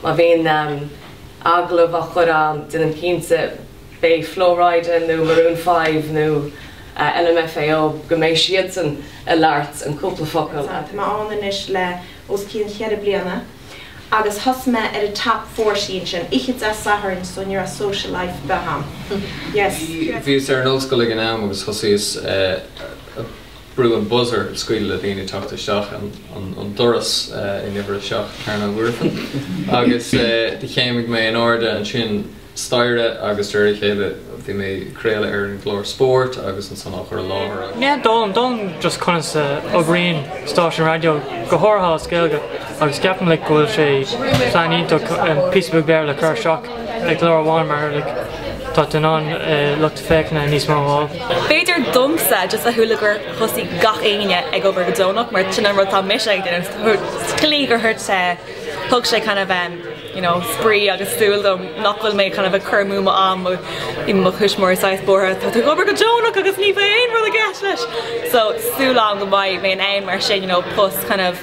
Má bhíonn agallamh á chur ann, déanaim cinnte, beidh Flo Rida nó Maroon Five nó LMFAO, go mbeidh siadsan ag labhairt an cúpla focal. Tá mé ann anois le os cionn cheithre bliana agus thosaigh mé ar an Top Forty ansin oíche Dé Sathairn so ní raibh social life ar bith ann. Bhíos ar an ollscoil ag an am agus thosaíos a. Brú an buzzer ag scaoileadh le daoine teacht isteach an doras in uimhir a seacht, Cearnóg Mhuirfean, agus do chéimigh mé in airde an staighre agus de réir a chéile bhí mé ag craoladh ar an gclár spóirt agus ansan á chur i láthair agus. yeah d'fhoghlaim, d'fhoghlaim just conas a oibríonn stáisiún raidió, go háirithe as Gaeilge agus ceapaim like go bhfuil sé mar phlean iontach píosa beag Béarla a chur isteach. I gclár amháin, mar a lig go dtagann lucht féachana níos mó ann. B'fhéidir domsa is a thuilleadh gur thosaigh gach éinne ag obair go deonach mar sin an rud tá mise ag déanamh sa tslí gur thuit sé thug sé kind of em you know spraoi agus siúl dom nach bhfuil mé kind of ag cur amú mo am mo is mo thuismitheoirí saghas buartha tá tú obair go deonach agus ní bheidh aon rud i gceist leis so súil agam go mbeidh mé in ann mar sin you know post kind of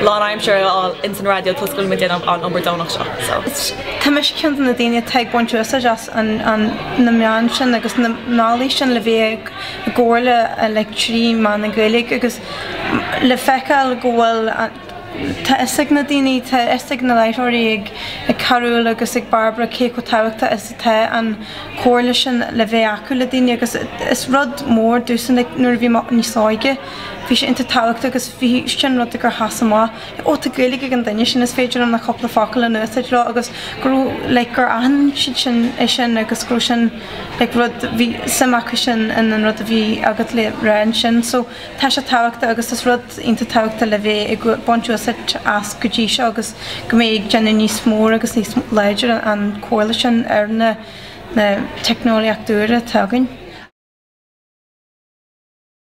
lánaimseartha a fháil ins an raidió toisc go bhfuil muid ag déanamh an obair deonach seo so. Is mise ceann de na daoine atá ag baint úsáid as na meáin sin agus na mbealaí sin le bheith i gcomhrá like trí mheán na Gaeilge agus le feiceáil go bhfuil tá fhios ag na daoine tá fhios ag na láithreoirí ag Carúil agus ag Bairbre cé chomh tábhachtach is atá an comhrá sin le bheith acu le daoine agus is rud mór domhsa like nuair a bhí mé níos óige Bhí sé iontach tábhachtach agus bhí sé an rud gur sheas amach le, ó tá Gaeilge ag an duine sin is féidir liom na cúpla focal a úsáid leo agus go raibh like gur aithin siad é sin agus go raibh sin like rud bhí suim acu sin in an rud a bhí agat le rá ansin so tá sé tábhachtach agus is rud iontach tábhachtach le bheith ag baint úsáid as go dtí seo agus go mbeidh ag déanamh níos mór agus níos láidir an comhrá sin ar na na teicneolaíocht úra atá againn.